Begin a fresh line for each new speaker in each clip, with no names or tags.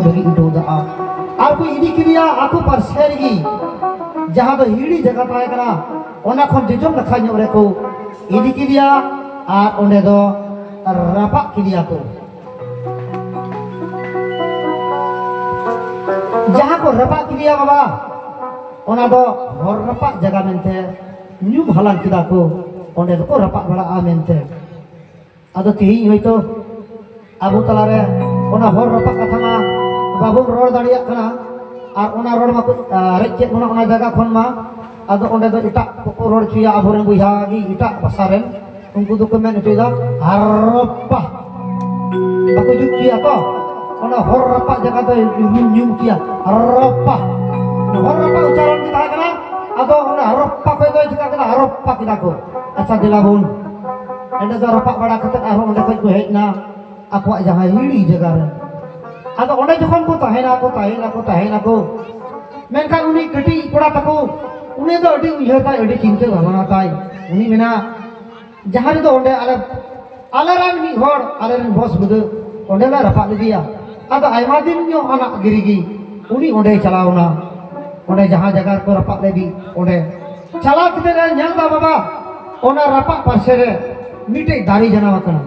ᱞᱟᱹᱜᱤᱫ ᱩᱰᱩᱠ ᱫᱟᱜᱼᱟ ᱟᱨ ᱠᱚ ᱤᱫᱤ ᱠᱮᱫᱮᱭᱟ ᱟᱠᱚ ᱯᱟᱨᱥᱮ ᱨᱮᱜᱮ ᱡᱟᱦᱟᱸ ᱫᱚ ᱦᱤᱲᱤ ᱡᱟᱭᱜᱟ ᱛᱟᱦᱮᱸ ᱠᱟᱱᱟ ᱚᱱᱟ ᱠᱷᱚᱱ ᱡᱚᱡᱚᱢ ᱱᱟᱠᱷᱟ ᱧᱚᱜ ᱨᱮᱠᱚ ᱤᱫᱤ ᱠᱮᱫᱮᱭᱟ ᱟᱨ ᱚᱸᱰᱮ ᱫᱚ ᱨᱟᱯᱟᱜ ᱠᱮᱫᱮᱭᱟ ᱠᱚ ᱡᱟᱦᱟᱸ ᱠᱚ ᱨᱟᱯᱟᱜ ᱠᱮᱫᱮᱭᱟ ᱵᱟᱵᱟ ᱚᱱᱟ ᱫᱚ ᱦᱚᱨ ᱨᱟᱯᱟᱜ ᱡᱟᱭᱜᱟ ᱢᱮᱱᱛᱮ ᱧᱩᱢ ᱦᱟᱞᱟᱝ ᱠᱮᱫᱟ ᱠᱚ ᱚᱸᱰᱮ ᱫᱚᱠᱚ ᱨᱟᱯᱟᱜ ᱵᱟᱲᱟᱜᱼᱟ ᱢᱮᱱᱛᱮ ᱟᱫᱚ ᱛᱮᱦᱮᱧ ᱦᱚᱭᱛᱚ ᱟᱵᱚ ᱛᱟᱞᱟᱨᱮ ᱚᱱᱟ ᱦᱚᱲ ᱨᱟᱯᱟᱜ ᱠᱟᱛᱷᱟ ᱢᱟ ᱵᱟᱵᱚᱱ ᱨᱚᱲ ᱫᱟᱲᱮᱭᱟᱜ ᱠᱟᱱᱟ ᱟᱨ ᱚᱱᱟ ᱨᱚᱲ ᱢᱟᱠᱚ ᱨᱮᱡ ᱠᱮᱫ ᱵᱚᱱᱟ ᱚᱱᱟ ᱡᱟᱭᱜᱟ ᱠᱷᱚᱱ ᱢᱟ ᱟᱫᱚ ᱚᱸᱰᱮ ᱫᱚ ᱮᱴᱟᱜ ᱠᱚᱠᱚ ᱨᱚᱲ ᱦᱚᱪᱚᱭᱟ ᱟᱵᱚᱨᱮᱱ ᱵᱚᱭᱦᱟ ᱜᱮ ᱮᱴᱟᱜ ᱵᱷᱟᱥᱟ ᱨᱮᱱ ᱩᱱᱠᱩ ᱫᱚᱠᱚ ᱢᱮᱱ ᱦᱚᱪᱚᱭᱮᱫᱟ ᱦᱟᱨᱯᱟ ᱵᱟᱠᱚ ᱡᱩᱛ ᱠᱮᱭᱟ ᱛᱚ ᱚᱱᱟ ᱦᱚᱨ ᱨᱟᱯᱟᱜ ᱡᱟᱭᱜᱟ ᱫᱚ ᱧᱩᱢ ᱧᱩᱢ ᱠᱮᱭᱟ ᱦᱟᱨᱯᱟ ᱦᱚᱨ ᱨᱟᱯᱟᱜ ᱩᱪᱟᱨᱚᱱ ᱜᱮ ᱛᱟᱦᱮᱸ ᱠᱟᱱᱟ ᱟᱫᱚ ᱚᱱᱟ ᱦᱟᱨᱯᱟ ᱠᱷᱚᱡ ᱫᱚ ᱪᱤᱠᱟᱹ ᱠᱮᱫᱟ ᱦᱟᱨᱯᱟ ᱠᱮᱫᱟ ᱠᱚ ᱟᱪᱪᱷᱟ ᱫᱮᱞᱟ ᱵᱚᱱ ᱚᱸᱰᱮ ᱫᱚ ᱨᱟᱯᱟᱜ ᱵᱟᱲᱟ ᱠᱟᱛᱮ ᱟᱨᱦᱚᱸ ᱚᱸᱰᱮ ᱠᱷᱚᱱ ᱠᱚ ᱦᱮᱡ ᱮᱱᱟ ᱟᱠᱚᱣᱟᱜ ᱡᱟᱦᱟᱸ ᱦᱤᱲᱤ ᱡᱟᱭᱜᱟ ᱨᱮ ᱟᱫᱚ ᱚᱸᱰᱮ ᱡᱚᱠᱷᱚᱱ ᱠᱚ ᱛᱟᱦᱮᱱᱟ ᱠᱚ ᱛᱟᱦᱮᱱᱟ ᱠᱚ ᱛᱟᱦᱮᱱᱟ ᱠᱚ ᱢᱮᱱᱠᱷᱟᱱ ᱩᱱᱤ ᱠᱟᱹᱴᱤᱡ ᱠᱚᱲᱟ ᱛᱟᱠᱚ ᱩᱱᱤ ᱫᱚ ᱟᱹᱰᱤ ᱩᱭᱦᱟᱹᱨ ᱛᱟᱭ ᱟᱹᱰᱤ ᱪᱤᱱᱛᱟᱹ ᱵᱷᱟᱵᱽᱱᱟ ᱛᱟᱭ ᱩᱱᱤ ᱢᱮᱱᱟ ᱡᱟᱦᱟᱸ ᱨᱮᱫᱚ ᱚᱸᱰᱮ ᱟᱞᱮ ᱟᱞᱮᱨᱮᱱ ᱢᱤᱫ ᱦᱚᱲ ᱟᱞᱮᱨᱮᱱ ᱵᱚᱥ ᱵᱩᱫᱟᱹ ᱚᱸᱰᱮ ᱞᱮ ᱨᱟᱯᱟᱜ ᱞᱮᱫᱮᱭᱟ ᱟᱫᱚ ᱟᱭᱢᱟ ᱫᱤᱱ ᱧᱚᱜ ᱟᱱᱟᱜ ᱜᱤᱨᱤ ᱜᱮ ᱩᱱᱤ ᱚᱸᱰᱮ ᱪᱟᱞᱟᱣᱱᱟ ᱚᱸᱰᱮ ᱡᱟᱦᱟᱸ ᱡᱟᱭᱜᱟ ᱨᱮᱠᱚ ᱨᱟᱯᱟᱜ ᱞᱮᱫᱮ ᱚᱸᱰᱮ ᱪᱟᱞᱟᱣ ᱠᱟᱛᱮ ᱞᱮ ᱧᱮᱞ ᱮᱫᱟ ᱵᱟᱵᱟ ᱚᱱᱟ ᱨᱟᱯᱟᱜ ᱯᱟᱥᱮ ᱨᱮ ᱢᱤᱫᱴᱮᱡ ᱫᱟᱨᱮ ᱡᱟᱱᱟᱢ ᱟᱠᱟᱱᱟ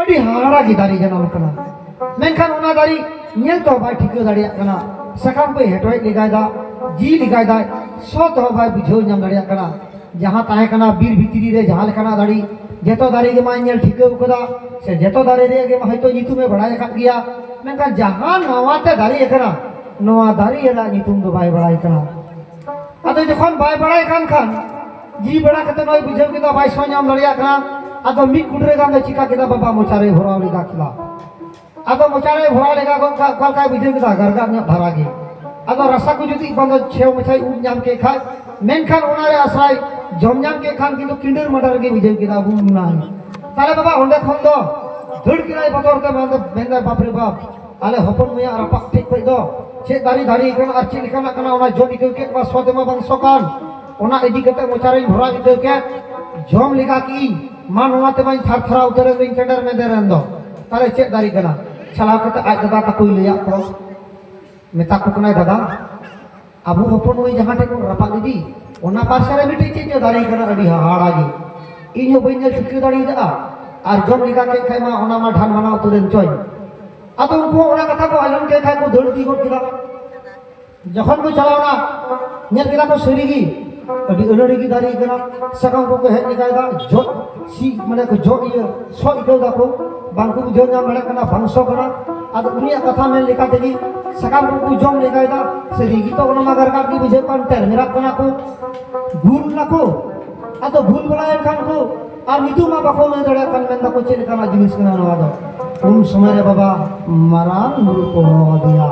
ᱟᱹᱰᱤ ᱦᱟᱦᱟᱲᱟ ᱜᱮ ᱫᱟᱨᱮ ᱡᱟᱱᱟᱢ ᱟᱠᱟᱱᱟ ᱢᱮᱱᱠᱷᱟᱱ ᱚᱱᱟ ᱫᱟᱨᱮ ᱧᱮᱞ ᱛᱮᱦᱚᱸ ᱵᱟᱭ ᱴᱷᱤᱠᱟᱹ ᱫᱟᱲᱮᱭᱟᱜ ᱠᱟᱱᱟ ᱥᱟᱠᱟᱢ ᱠᱚᱭ ᱦᱮᱴᱣᱮᱡ ᱞᱮᱜᱟᱭᱮᱫᱟ ᱡᱤ ᱞᱮᱜᱟᱭᱮᱫᱟᱭ ᱥᱚ ᱛᱮᱦᱚᱸ ᱵᱟᱭ ᱵᱩᱡᱷᱟᱹᱣ ᱧᱟᱢ ᱫᱟᱲᱮᱭᱟᱜ ᱠᱟᱱᱟ ᱡᱟᱦᱟᱸ ᱛᱟᱦᱮᱸ ᱠᱟᱱᱟ ᱵᱤᱨ ᱵᱷᱤᱛᱨᱤ ᱨᱮ ᱡᱟᱦᱟᱸ ᱞᱮᱠᱟᱱᱟᱜ ᱫᱟᱨᱮ ᱡᱚᱛᱚ ᱫᱟᱨᱮ ᱜᱮ ᱢᱟᱭ ᱧᱮᱞ ᱴᱷᱤᱠᱟᱹ ᱟᱠᱟᱫᱟ ᱥᱮ ᱡᱚᱛᱚ ᱫᱟᱨᱮ ᱨᱮᱭᱟᱜ ᱜᱮ ᱦᱚᱭᱛᱳ ᱧᱩᱛᱩᱢᱮ ᱵᱟᱲᱟᱭ ᱟᱠᱟᱫ ᱜᱮᱭᱟ ᱢᱮᱱᱠᱷᱟᱱ ᱡᱟᱦᱟᱸ ᱱᱟᱣᱟᱛᱮ ᱫᱟᱨᱮ ᱟᱠᱟᱱᱟ ᱱᱚᱣᱟ ᱫᱟᱨᱮ ᱨᱮᱱᱟᱜ ᱧᱩᱛᱩᱢ ᱫᱚ ᱵᱟᱭ ᱵᱟᱲᱟᱭ ᱠᱟᱱᱟ ᱟᱫᱚ ᱡᱚᱠᱷᱚᱱ ᱵᱟᱭ ᱵᱟᱲᱟᱭ ᱠᱟᱱ ᱠᱷᱟᱱ ᱡᱤ ᱵᱟᱲᱟ ᱠᱟᱛᱮ ᱱᱚᱭ ᱵᱩᱡᱷᱟᱹᱣ ᱠᱮᱫᱟ ᱵᱟᱭ ᱥᱚ ᱧᱟᱢ ᱫᱟᱲᱮᱭᱟᱜ ᱠᱟᱱᱟ ᱟᱫᱚ ᱢᱤᱫ ᱠᱩᱴᱨᱟᱹ ᱜᱟᱱ ᱫᱚ ᱪᱤᱠᱟ ᱠᱮᱫᱟ ᱵᱟᱵᱟ ᱢᱚᱪᱟᱨᱮ ᱵᱷᱚᱨᱟᱣ ᱞᱮᱫᱟ ᱠᱷᱮᱞᱟ ᱟᱫᱚ ᱢᱚᱪᱟᱨᱮ ᱵᱷᱚᱨᱟᱣ ᱞᱮᱜᱟ ᱜᱚᱫ ᱠᱟᱜ ᱚᱠᱟ ᱞᱮᱠᱟᱭ ᱵᱩᱡᱷᱟᱹᱣ ᱠᱮᱫᱟ ᱜᱟᱨᱜᱟᱨ ᱧᱚᱜ ᱫᱷᱟᱨᱟ ᱜᱮ ᱟᱫᱚ ᱨᱟᱥᱟ ᱠᱚ ᱡᱩᱫᱤ ᱵᱟᱝ ᱫᱚ ᱪᱷᱮᱣ ᱢᱟᱪᱷᱟᱭ ᱩᱵ ᱧᱟᱢ ᱠᱮᱫ ᱠᱷᱟᱡ ᱢᱮᱱᱠᱷᱟᱱ ᱚᱱᱟᱨᱮ ᱟᱥᱟᱭ ᱡᱚᱢ ᱧᱟᱢ ᱠᱮᱫ ᱠᱷᱟᱱ ᱠᱤᱱᱛᱩ ᱠᱤᱸᱰᱟᱹᱨ ᱢᱟᱰᱟᱨ ᱜᱮ ᱵᱩᱡᱷᱟᱹᱣ ᱠᱮᱫᱟ ᱟᱵᱚ ᱚᱱᱟ ᱛᱟᱦᱞᱮ ᱵᱟᱵᱟ ᱚᱸᱰᱮ ᱠᱷᱚᱱ ᱫᱚ ᱫᱟᱹᱲ ᱠᱮᱫᱟᱭ ᱵᱚᱛᱚᱨ ᱛᱮ ᱢᱮᱱᱫᱟ ᱢᱮᱱᱫᱟᱭ ᱵᱟᱯ ᱨᱮ ᱵᱟᱯ ᱟᱞᱮ ᱦᱚᱯᱚᱱ ᱢᱟᱹᱭᱟᱜ ᱨᱟᱯᱟᱜ ᱴᱷᱮᱡ ᱠᱷᱚᱡ ᱫᱚ ᱪᱮᱫ ᱫᱟᱨᱮ ᱫᱟᱨᱮ ᱠᱟᱱᱟ ᱟᱨ ᱪᱮᱫ ᱞᱮᱠᱟᱱᱟᱜ ᱠᱟᱱᱟ ᱚᱱᱟ ᱡᱚᱢ ᱤᱠᱟᱹᱣ ᱠᱮᱫ ᱵᱟ ᱥᱚ ᱛᱮᱢᱟ ᱵᱟᱝ ᱥᱚ ᱠᱟᱱ ᱚᱱᱟ ᱤᱫᱤ ᱠᱟᱛᱮ ᱢᱚᱪᱟᱨᱮᱧ ᱵᱷᱚᱨᱟᱣ ᱤᱠᱟᱹᱣ ᱠᱮᱫ ᱡᱚᱢ ᱞᱮᱜᱟ ᱠᱮᱜ ᱤᱧ ᱢᱟ ᱱᱚᱣᱟ ᱛᱮᱢᱟᱧ ᱛᱷᱟᱨ ᱛᱷᱟᱨᱟ ᱩᱛᱟᱹᱨᱮᱱ ᱫᱩᱧ ᱠᱮᱰᱮᱨ ᱢᱮᱰᱮᱨᱮᱱ ᱫᱚ ᱛᱟᱦᱚᱞᱮ ᱪᱮᱫ ᱫᱟᱲᱮ ᱠᱟᱱᱟ ᱪᱟᱞᱟᱣ ᱠᱟᱛᱮ ᱟᱡ ᱫᱟᱫᱟ ᱛᱟᱠᱚᱭ ᱞᱟᱹᱭᱟᱫ ᱠᱚᱣᱟ ᱢᱮᱛᱟ ᱠᱚ ᱠᱟᱱᱟᱭ ᱫᱟᱫᱟ ᱟᱵᱚ ᱦᱚᱯᱚᱱ ᱱᱩᱭ ᱡᱟᱦᱟᱸ ᱴᱷᱮᱱ ᱵᱚᱱ ᱨᱟᱯᱟᱜ ᱞᱮᱫᱮ ᱚᱱᱟ ᱯᱟᱥᱮ ᱨᱮ ᱢᱤᱫᱴᱮᱡ ᱪᱮᱫ ᱪᱚ ᱫᱟᱨᱮ ᱠᱟᱱᱟ ᱟᱹᱰᱤ ᱦᱟᱦᱟᱲᱟ ᱜᱮ ᱤᱧ ᱦᱚᱸ ᱵᱟᱹᱧ ᱧᱮᱞ ᱴᱷᱤᱠᱟᱹ ᱫᱟᱲᱮᱭᱟᱜᱼᱟ ᱟᱨ ᱡᱚᱢ ᱞᱮᱠᱟ ᱠᱮᱫ ᱠᱷᱟᱡ ᱢᱟ ᱚᱱᱟ ᱢᱟ ᱰᱷᱟᱱ ᱢᱟᱱᱟ ᱩᱛᱟᱹᱨᱮᱱ ᱪᱚᱭ ᱟᱫᱚ ᱩᱱᱠᱩ ᱚᱱᱟ ᱠᱟᱛᱷᱟ ᱠᱚ ᱟᱸᱡᱚᱢ ᱠᱮᱫ ᱠᱷᱟᱡ ᱠᱚ ᱫᱟᱹᱲ ᱤᱫᱤ ᱜᱚᱫ ᱠᱮᱫᱟ ᱡᱚᱠᱷᱚᱱ ᱠᱚ ᱪᱟᱞᱟᱣᱱᱟ ᱧᱮᱞ ᱠᱮᱫᱟ ᱠᱚ ᱥᱟᱹᱨᱤᱜᱮ ᱟᱹᱰᱤ ᱟᱹᱱᱟᱹᱲᱤ ᱜᱮ ᱫᱟᱨᱮ ᱠᱟᱱᱟ ᱥᱟᱠᱟᱢ ᱠᱚᱠᱚ ᱦᱮᱡ ᱞᱮᱠᱟᱭᱮᱫᱟ ᱡᱚᱜ ᱥᱤ ᱢᱟᱱᱮ ᱠᱚ ᱡᱚᱜ ᱤᱭᱟᱹ ᱥᱚ ᱟᱹᱭᱠᱟᱹᱣ ᱫᱟᱠᱚ ᱵᱟᱝᱠᱚ ᱵᱩᱡᱷᱟᱹᱣ ᱧᱟᱢ ᱫᱟᱲᱮᱭᱟᱜ ᱠᱟᱱᱟ ᱵᱟᱝ ᱥᱚ ᱠᱟᱱᱟ ᱟᱫᱚ ᱩᱱᱤᱭᱟᱜ ᱠᱟᱛᱷᱟ ᱢᱮᱱ ᱞᱮᱠᱟ ᱛᱮᱜᱮ ᱥᱟᱠᱟᱢ ᱠᱚᱠᱚ ᱡᱚᱢ ᱞᱮᱠᱟᱭᱮᱫᱟ ᱥᱟᱹᱨᱤᱜᱮ ᱛᱚ ᱚᱱᱟ ᱢᱟ ᱜᱟᱨᱜᱟᱨ ᱜᱮ ᱵᱩᱡᱷᱟᱹᱜ ᱠᱟᱱ ᱛᱮᱨ ᱢᱮᱨᱟᱜ ᱠᱟᱱᱟ ᱠᱚ ᱵᱷᱩᱞ ᱱᱟᱠᱚ ᱟᱫᱚ ᱵᱷᱩᱞ ᱵᱟᱲᱟᱭᱮᱱ ᱠᱷᱟᱱ ᱠᱚ ᱟᱨ ᱱᱤᱛᱚᱜ ᱢᱟ ᱵᱟᱠᱚ ᱞᱟᱹᱭ ᱫᱟᱲᱮᱭᱟᱜ ᱠᱟᱱ ᱢᱮᱱ ᱫᱟᱠᱚ ᱪᱮᱫ ᱞᱮᱠᱟᱱᱟᱜ ᱡᱤᱱᱤᱥ ᱠᱟᱱᱟ ᱱᱚᱣᱟ ᱫᱚ ᱩᱱ ᱥᱚᱢᱚᱭ ᱨᱮ ᱵᱟᱵᱟ ᱢᱟᱨᱟᱝ ᱵᱩᱨᱩ ᱠᱚ ᱦᱚᱦᱚ ᱟᱫᱮᱭᱟ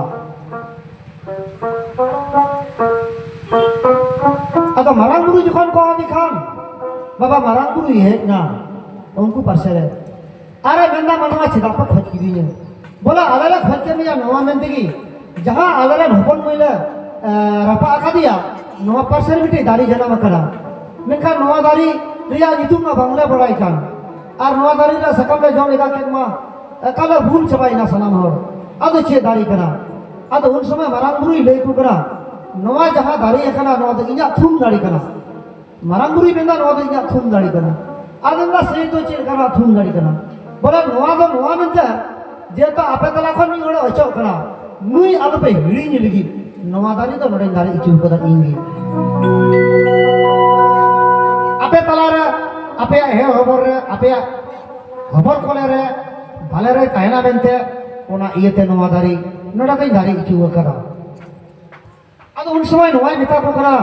ᱟᱫᱚ ᱢᱟᱨᱟᱝ ᱵᱩᱨᱩ ᱡᱚᱠᱷᱚᱱ ᱠᱚ ᱦᱚᱦᱚ ᱠᱷᱟᱱ ᱵᱟᱵᱟ ᱢᱟᱨᱟᱝ ᱵᱩᱨᱩᱭ ᱦᱮᱡ ᱮᱱᱟ ᱩᱱᱠᱩ ᱯᱟᱥᱮ ᱨᱮ ᱟᱨᱮ ᱢᱮᱱᱫᱟ ᱢᱟᱱᱣᱟ ᱪᱮᱫᱟᱜ ᱯᱮ ᱠᱷᱚᱡ ᱠᱤᱫᱤᱧᱟ ᱵᱚᱞᱮ ᱟᱞᱮ ᱞᱮ ᱠᱷᱚᱡ ᱠᱮᱫ ᱢᱮᱭᱟ ᱱᱚᱣᱟ ᱢᱮᱱ ᱛᱮᱜᱮ ᱡᱟᱦᱟᱸ ᱟᱞᱮ ᱨᱮᱱ ᱦᱚᱯᱚᱱ ᱢᱟᱹᱭ ᱞᱮ ᱨᱟᱯᱟᱜ ᱟᱠᱟᱫᱮᱭᱟ ᱱᱚᱣᱟ ᱯᱟᱥᱮ ᱨᱮ ᱢᱤᱫᱴᱮᱡ ᱫᱟᱨᱮ ᱡᱟᱱᱟᱢ ᱟᱠᱟᱱᱟ ᱢᱮᱱᱠᱷᱟᱱ ᱱᱚᱣᱟ ᱫᱟᱨᱮ ᱨᱮᱭᱟᱜ ᱧᱩᱛᱩᱢ ᱢᱟ ᱵᱟᱝᱞᱮ ᱵᱟᱲᱟᱭ ᱠᱟᱱ ᱟᱨ ᱱᱚᱣᱟ ᱫᱟᱨᱮ ᱨᱮᱭᱟᱜ ᱥᱟᱠᱟᱢ ᱞᱮ ᱡᱚᱢ ᱮᱫᱟ ᱠᱮᱫ ᱢᱟ ᱮᱠᱟᱞᱮ ᱵᱩᱞ ᱪᱟᱵᱟᱭᱮᱱᱟ ᱥᱟᱱᱟᱢ ᱦᱚᱲ ᱟᱫᱚ ᱪᱮᱫ ᱫᱟᱨᱮ ᱠᱟᱱᱟ ᱟᱫᱚ ᱩᱱ ᱥᱚᱢᱚᱭ ᱢᱟᱨᱟᱝ ᱵᱩᱨᱩᱭ ᱞᱟᱹᱭ ᱟᱠᱚ ᱠᱟᱱᱟ ᱱᱚᱣᱟ ᱡᱟᱦᱟᱸ ᱫᱟᱨᱮ ᱟᱠᱟᱱᱟ ᱱᱚᱣᱟ ᱫᱚ ᱤᱧᱟᱹᱜ ᱛᱷᱩᱢ ᱫᱟᱨᱮ ᱠᱟᱱᱟ ᱢᱟᱨᱟᱝ ᱵᱩᱨᱩᱭ ᱢᱮᱱᱫᱟ ᱱᱚᱣᱟ ᱫᱚ ᱤᱧᱟᱹᱜ ᱛᱷᱩᱢ ᱫᱟᱨᱮ ᱠᱟᱱᱟ ᱟᱫᱚ ᱢᱮᱱᱫᱟ ᱥᱮᱭ ᱛᱚ ᱪᱮᱫ ᱞᱮᱠᱟᱱᱟᱜ ᱛᱷᱩᱢ ᱫᱟᱨᱮ ᱠᱟᱱᱟ ᱵᱚᱞᱮ ᱱᱚᱣᱟ ᱫᱚ ᱱᱚᱣᱟ ᱢᱮᱱᱛᱮ ᱡᱮᱦᱮᱛᱩ ᱟᱯᱮ ᱛᱟᱞᱟ ᱠᱷᱚᱱ ᱢᱤᱫ ᱦᱚᱲᱮ ᱚᱪᱚᱜ ᱠᱟᱱᱟ ᱱᱩᱭ ᱟᱞᱚᱯᱮ ᱦᱤᱲᱤᱧ ᱞᱟᱹᱜᱤᱫ ᱱᱚᱣᱟ ᱫᱟᱨᱮ ᱫᱚ ᱱᱚᱰᱮᱧ ᱫᱟᱨᱮ ᱦᱚᱪᱚ ᱠᱟᱫᱟ ᱤᱧ ᱜᱮ ᱟᱯᱮ ᱛᱟᱞᱟᱨᱮ ᱟᱯᱮᱭᱟᱜ ᱦᱮᱸ ᱦᱚᱵᱚᱨ ᱨᱮ ᱟᱯᱮᱭᱟᱜ ᱦᱚᱵᱚᱨ ᱠᱚᱞᱮ ᱨᱮ ᱵᱷᱟᱞᱮ ᱨᱮ ᱛᱟᱦᱮᱱᱟ ᱢᱮᱱᱛᱮ ᱚᱱᱟ ᱤᱭᱟᱹᱛᱮ ᱱᱚᱣᱟ ᱫᱟᱨᱮ ᱱᱚᱰᱮ ᱫᱚᱧ ᱫᱟᱨᱮ ᱦᱚᱪᱚ ᱠᱟᱫᱟ ᱟᱫᱚ ᱩᱱ ᱥᱚᱢᱚᱭ ᱱᱚᱣᱟᱭ ᱢᱮᱛᱟ ᱠᱚ ᱠᱟᱱᱟ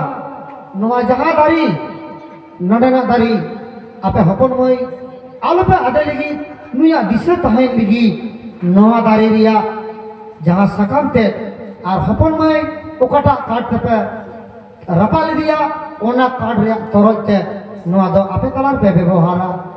ᱱᱚᱣᱟ ᱡᱟᱦᱟᱸ ᱫᱟᱨᱮ ᱱᱚᱰᱮᱱᱟᱜ ᱫᱟᱨᱮ ᱟᱯᱮ ᱦᱚᱯᱚᱱ ᱢᱟᱹᱭ ᱟᱞᱚᱯᱮ ᱟᱫᱮ ᱞᱟᱹᱜᱤᱫ ᱱᱩᱭᱟᱜ ᱫᱤᱥᱟᱹ ᱛᱟᱦᱮᱱ ᱞᱟᱹᱜᱤᱫ ᱱᱚᱣᱟ ᱫᱟᱨᱮ ᱨᱮᱭᱟᱜ ᱡᱟᱦᱟᱸ ᱥᱟᱠᱟᱢ ᱛᱮᱫ ᱟᱨ ᱦᱚᱯᱚᱱ ᱢᱟᱹᱭ ᱚᱠᱟᱴᱟᱜ ᱠᱟᱴ ᱛᱮᱯᱮ ᱨᱟᱯᱟᱜ ᱞᱮᱫᱮᱭᱟ ᱚᱱᱟ ᱠᱟᱴ ᱨᱮᱭᱟᱜ ᱛᱚᱨᱚᱡ ᱛᱮ ᱱᱚᱣᱟ ᱫᱚ ᱟᱯᱮ ᱛᱟᱞᱟ ᱨᱮᱯᱮ ᱵᱮᱵᱚᱦᱟᱨᱟ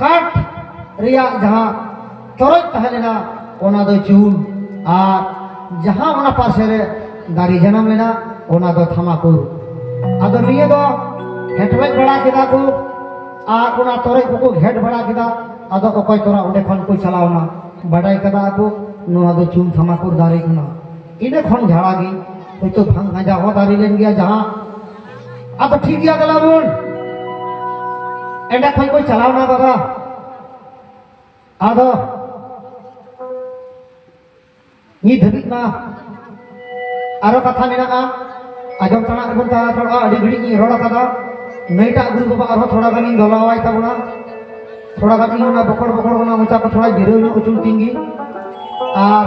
ᱠᱟᱴ ᱨᱮᱭᱟᱜ ᱡᱟᱦᱟᱸ ᱛᱚᱨᱚᱡ ᱛᱟᱦᱮᱸ ᱞᱮᱱᱟ ᱚᱱᱟ ᱫᱚ ᱪᱩᱞ ᱟᱨ ᱡᱟᱦᱟᱸ ᱚᱱᱟ ᱯᱟᱥᱮ ᱨᱮ ᱫᱟᱨᱮ ᱡᱟᱱᱟᱢ ᱞᱮᱱᱟ ᱚᱱᱟ ᱫᱚ ᱛᱷᱟᱢᱟᱠᱩᱨ ᱟᱫᱚ ᱱᱤᱭᱟᱹ ᱫᱚ ᱦᱮᱴᱣᱮᱡ ᱵᱟᱲᱟ ᱠᱮᱫᱟ ᱠᱚ ᱟᱨ ᱚᱱᱟ ᱛᱚᱨᱚᱡ ᱠᱚᱠᱚ ᱜᱷᱮᱴ ᱵᱟᱲᱟ ᱠᱮᱫᱟ ᱟᱫᱚ ᱚᱠᱚᱭ ᱛᱚᱨᱟ ᱚᱸᱰᱮ ᱠᱷᱚᱱ ᱠᱚ ᱪᱟᱞᱟᱣᱱᱟ ᱵᱟᱰᱟᱭ ᱠᱟᱫᱟ ᱠᱚ ᱱᱚᱣᱟ ᱫᱚ ᱪᱩᱞ ᱛᱷᱟᱢᱟᱠᱩᱨ ᱫᱟᱨᱮ ᱠᱟᱱᱟ ᱤᱱᱟᱹ ᱠᱷᱚᱱ ᱡᱷᱟᱲᱟ ᱜᱮ ᱦᱳᱭᱛᱳ ᱵᱷᱟᱝ ᱜᱟᱸᱡᱟ ᱦᱚᱸ ᱫᱟᱨᱮ ᱞᱮᱱ ᱜᱮᱭᱟ ᱡᱟᱦᱟᱸ ᱟᱫᱚ ᱴᱷᱤᱠ ᱜᱮᱭᱟ ᱫᱟᱞᱟ ᱵᱚᱱ ᱮᱸᱰᱮ ᱠᱷᱚᱱ ᱠᱚ ᱪᱟᱞᱟᱣᱱᱟ ᱫᱟᱫᱟ ᱟᱫᱚ ᱱᱤᱛ ᱫᱷᱟᱹᱵᱤᱡ ᱢᱟ ᱟᱨᱚ ᱠᱟᱛᱷᱟ ᱢᱮᱱᱟᱜᱼᱟ ᱟᱸᱡᱚᱢ ᱛᱟᱱᱟᱜ ᱨᱮᱵᱚᱱ ᱛᱟᱦᱮᱸ ᱛᱷᱚᱲᱟ ᱟᱹᱰᱤ ᱜᱷᱟᱹᱲᱤᱡ ᱤᱧ ᱨᱚᱲ ᱟᱠᱟᱫᱟ ᱱᱟᱹᱭᱴᱟᱜ ᱜᱩᱨᱩ ᱵᱟᱵᱟ ᱟᱨᱦᱚᱸ ᱛᱷᱚᱲᱟ ᱜᱟᱱᱤᱧ ᱫᱚᱞᱟᱣᱟᱭ ᱛᱟᱵᱚᱱᱟ ᱛᱷᱚᱲᱟ ᱜᱟᱱ ᱤᱧ ᱚᱱᱟ ᱵᱚᱠᱚᱲ ᱵᱚᱠᱚᱲ ᱚᱱᱟ ᱢᱚᱪᱟ ᱠᱚ ᱛᱷᱚᱲᱟ ᱡᱤᱨᱟᱹᱣ ᱧᱚᱜ ᱦᱚᱪᱚ ᱛᱤᱧ ᱜᱮ ᱟᱨ